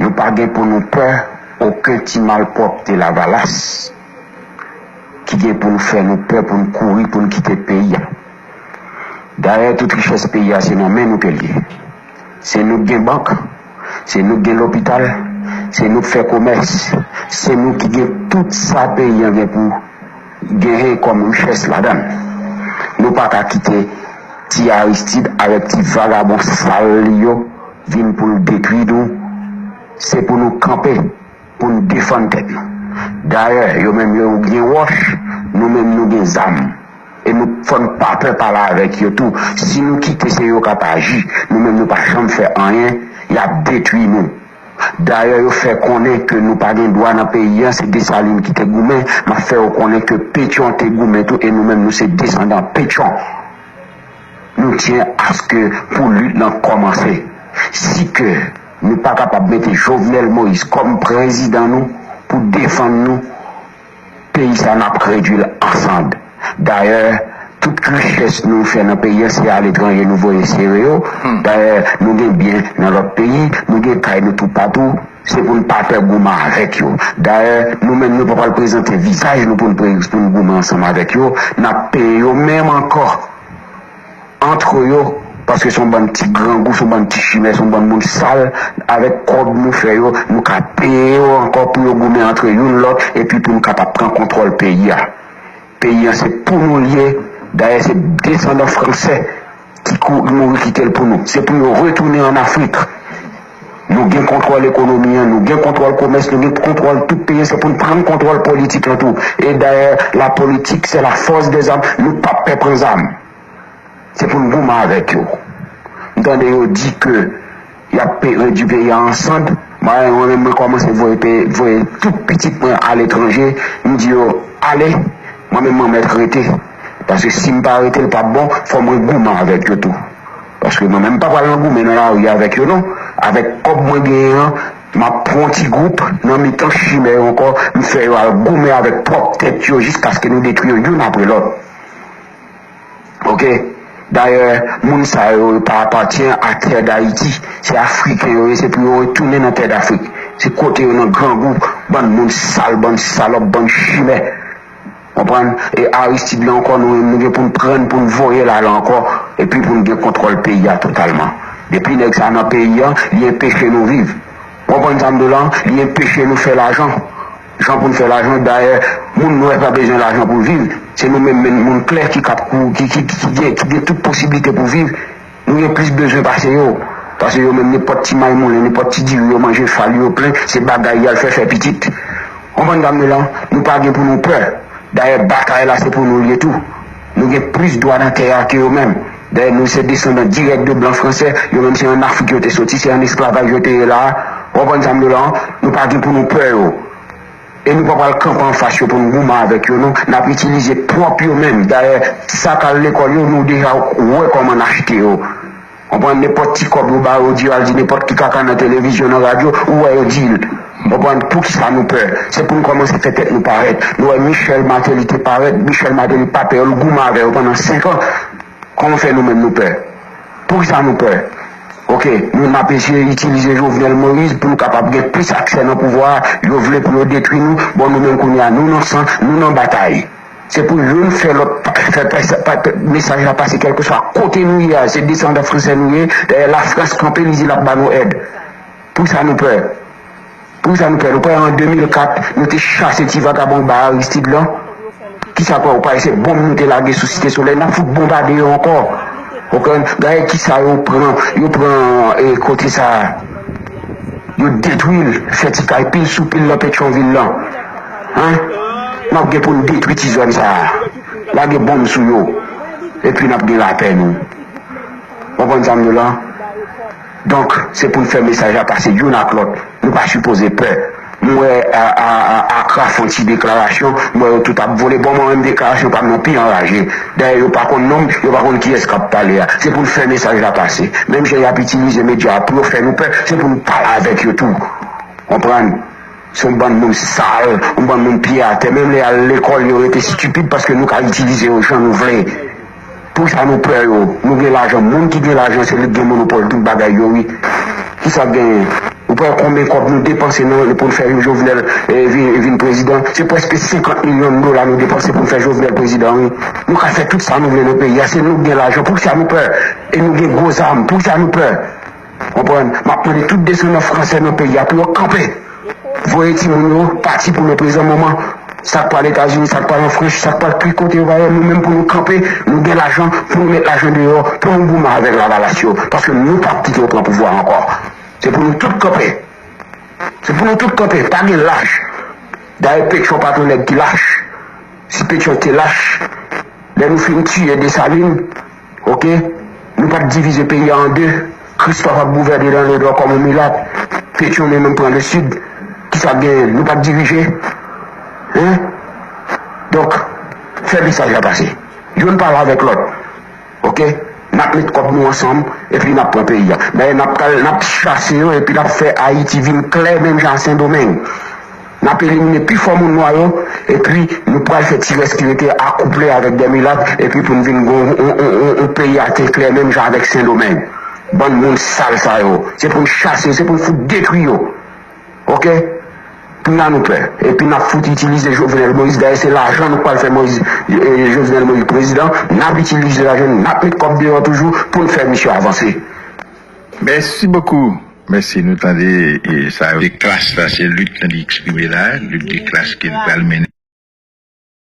Nou pa gen pou nou pè oken ti malpwòpte lavalas ki gen pou n fè nou pè pou n kouri pou n kite peyi a. Dayè tout richès peyi a se nan men nou ke l ye. Se nou k gen bank, se nou k gen lopital, se nou k fè komès, se nou ki gen tout sa peyi an gen pou. Genyen kòm richès ladann. Nou pa ka kite ti Aristide avèk ti vagabon sal li yo vin pou l detwi nou. Se pou nou kanpe pou n defann tèt nou. Dayè, yo menm yo gen wòch, nou menm nou gen zam. E nou fò n pa pè pale avèk yo tou. Si nou kite se yo k ap aji, nou menm nou pa janm fè anyen, y ap detwi nou. Dayè yo fè konnen ke nou pa gen dwa nan peyi an, se Desalin ki te goumen, m ap fè ou konnen ke Petyon te goumen tou e nou menm nou se desandan Petyon. Nou tyen aske pou lit lan kòmanse. Si ke nou pa kapab mete Jovenel Moïse kòm prezidan nou pou defann nou, Peyi sa nap k redwi l an sand. Dayè tout richès nou fè nan peyi an se aletranje nou voye sere yo. Dayè nou gen byen nan lòt peyi, nou gen kay nou toupatou, se pou n pa pè goumen avèk yo. Dayè nou menm nou pa pral prezante vizaj nou pou n goumen ansanm avèk yo, nap peye yo menm ankò. Antre yo, paske son bann ti grangou, son bann ti chimè, son bann moun sal, avèk kòb nou fè yo, nou ka peye yo ankò pou yo goumen antre youn lòt epi pou nou kapab pran kontwòl peyi a. Peyi an se pou nou l ye, dayè se desandan fransè ki kou mouri kite l pou nou. Se pou yo retounen an Afrik. Nou gen kontwòl ekonomi an, nou gen kontwòl komès, nou gen kontwòl tout peyi an, se pou n pran kontwòl politik lan tou. E dayè la politik se la fòs dè zam, nou pap pè pran zam. Se pou n goumen avèk yo. M tande yo di ke y ap redui peyi a an sand. Mwen menm mwen kòmanse voye tout pitit mwen aletranje. M di yo, ale, mwen menm mwen mèt rete. Paske si m pa rete l p ap bon. Fò mwen goumen avèk yo tou. Paske mwen menm m pa pral nan goumen nan lari avèk yo non. Avèk kòb mwen genyen an, m ap pran yon ti gwoup nan mitan chimè yo ankò. M fè yo al goumen avèk pwòp tèt yo jiskaske nou detwi yo youn apre lòt. Ok dayè moun sa yo yo pa apatyen a tè dayiti se afriken yo ye se pou yo retounen nan tè dafrik se kote yo nan grangou bann moun sal bann salòp bann chimè konprann e aristid la ankò nou menm nou gen poun prann poun voyel al ankò epi poun gen kontwòl peyi a totalman depi nèg sa nan peyi an li enpeche nou viv ou konprann sa mdou la li enpeche nou fè lajan. Jan pou n fè lajan, dayè moun nwè pa bezwen lajan pou viv, se nou menm menn moun klè ki kap kou ki ki ki gen tout posiblite pou viv, nou gen plis bezwen pase yo, pase yo menm nenpòt ti maymoulen, nenpòt ti diri yo manje fal yo plen se bagay yal fè fè pitit. Konprann dam yo la, nou pa gen pou nou pè, dayè batay la se pou nou l ye tou. Nou gen plis dwa nan tè a ke yo menm. Dayè nou se desandan dirèk de blan franse, yo menm se an Afrik yo te soti, se an esklavaj yo te ye la a. Ou konprann sa m di w la an? Nou pa gen pou nou pè yo. E nou pa pral kanpe anfas yo pou n goumen avèk yo non. N ap itilize pwòp yo menm. Dayè sa k al lekòl yo, nou deja wè kòman n achte yo. Ou pran nenpòt ti kòb yo bayo ou di yo al di nenpòt ki kaka nan televizyon nan radyo ou wè yo dil ou konprann poukisa nou pè se poun kòmanse fè tèt nou parèt nou wè Michel Martelly te parèt Michel Martelly pa pè yo l goumen avè yo pandan 5 ans kòman fè nou menm nou pè poukisa nou pè ok nou nap eseye itilize Jovenel Moïse poun kapab gen plis aksè nan pouvwa a yo vle pou yo detwi nou bon nou menm kounya nou nan san nou nan batay. Se pou youn fè lòt fè mesaj la pase kèlkeswa kote nou ye a, se desandan fransè nou ye, dayè lafrans kanpe li di lap ba nou èd. Poukisa nou pè? Poukisa nou pè? Nou kwè an 2004 nou te chase ti vagabon ba Aristide lan? Kisa kwè ou pa wè se bonm nou te lage sou site solèy nap fout bonbade yo ankò? Ou konprann? Gade kisa yo pran, yo pran kote sa a, yo detwil, fè ti kay pil sou pil lan petyon vil lan. Hein nap gen poun detwi ti zòn sa lage bonm sou yo epi nap gen lapè nou konprann sam di w lan donk se poun fè mesaj la pase youn ak lòt nou pa sipoze pè m wè Acra fon ti deklarasyon m wè yo tout ap vole bon mwen menm deklarasyon pam nan pi anraje dayè yo pa konn nonm yo pa konn kiyès kap pale a se poun fè mesaj la pase menm jan yap itilize medya a pou yo fè nou pè se poun pale avèk yo tou konprann. Se yon bann moun sal, yon bann moun pye atè. Menm lè y al lekòl, yo rete stipid paske nou ka itilize yo jan nou vle. Pou sa nou pè yo? Nou gen lajan. Moun ki gen lajan, se li k gen monopòl tout bagay yo wi. Ki sa k genyen? Ou pa wè konben kòb nou depanse nan pou n fè yon Jovenel vin prezidan? Se prèske 50 milyon dola nou depanse pou n fè Jovenel prezidan wi. Nou ka fè tout sa nou vle nan peyi a. Se nou k gen lajan. Pou ki sa nou pè? E nou gen gwo zam. Pou ki sa nou pè? Konprann, map mande tout desandan fransè nan peyi a pou yo kanpe, voye timoun yo pati pou leprezan moman, sak pral etazini, sak pral an franch, sak pral tout kote yo va ye, nou menm pou nou kanpe, nou gen lajan pou nou met lajan deyò pou nou goumen avèk lavalas yo, paske nou pap kite yo pran pouvwa ankò, se pou nou tout kanpe, se pou nou tout kanpe, pa gen lach, dayè petyon pat yon nèg ki lach, si petyon te lach lè nou fin tiye desalin. Ok Nou pap divize peyi a an 2 Christophe ap gouvène nan le nord kòm yon milat Petion li menm pran le sud Kisa k genyen Nou pap dirije Hein Donk Fè mesaj la pase Youn pale avèk lòt Ok Nap met kòb nou ansanm Epi nap pran peyi a Dayè nap pral nap chase yo epi nap fè Haïti vin klè menm jan a sendomeng. N ap elimine pi fò moun nwa yo epi nou pral fè ti rès ki rete a akouple avèk dè milat epi pou n vin gen yon peyi ate klè menm jan avèk sendomeng bann moun sal sa yo se pou n chase yo se pou n fout detwi yo ok kounya nou pè epi n ap fout itilize jovenel moïse dayè se lajan nou pral fè moïse jovenel moïse prezidan n ap itilize lajan n ap met kòb deyò toujou pou n fè misye avanse. Mèsi bokou mèsi nou tande e sa yo. De klas la se lit li eksprime la lit de klas ke li pral mennen.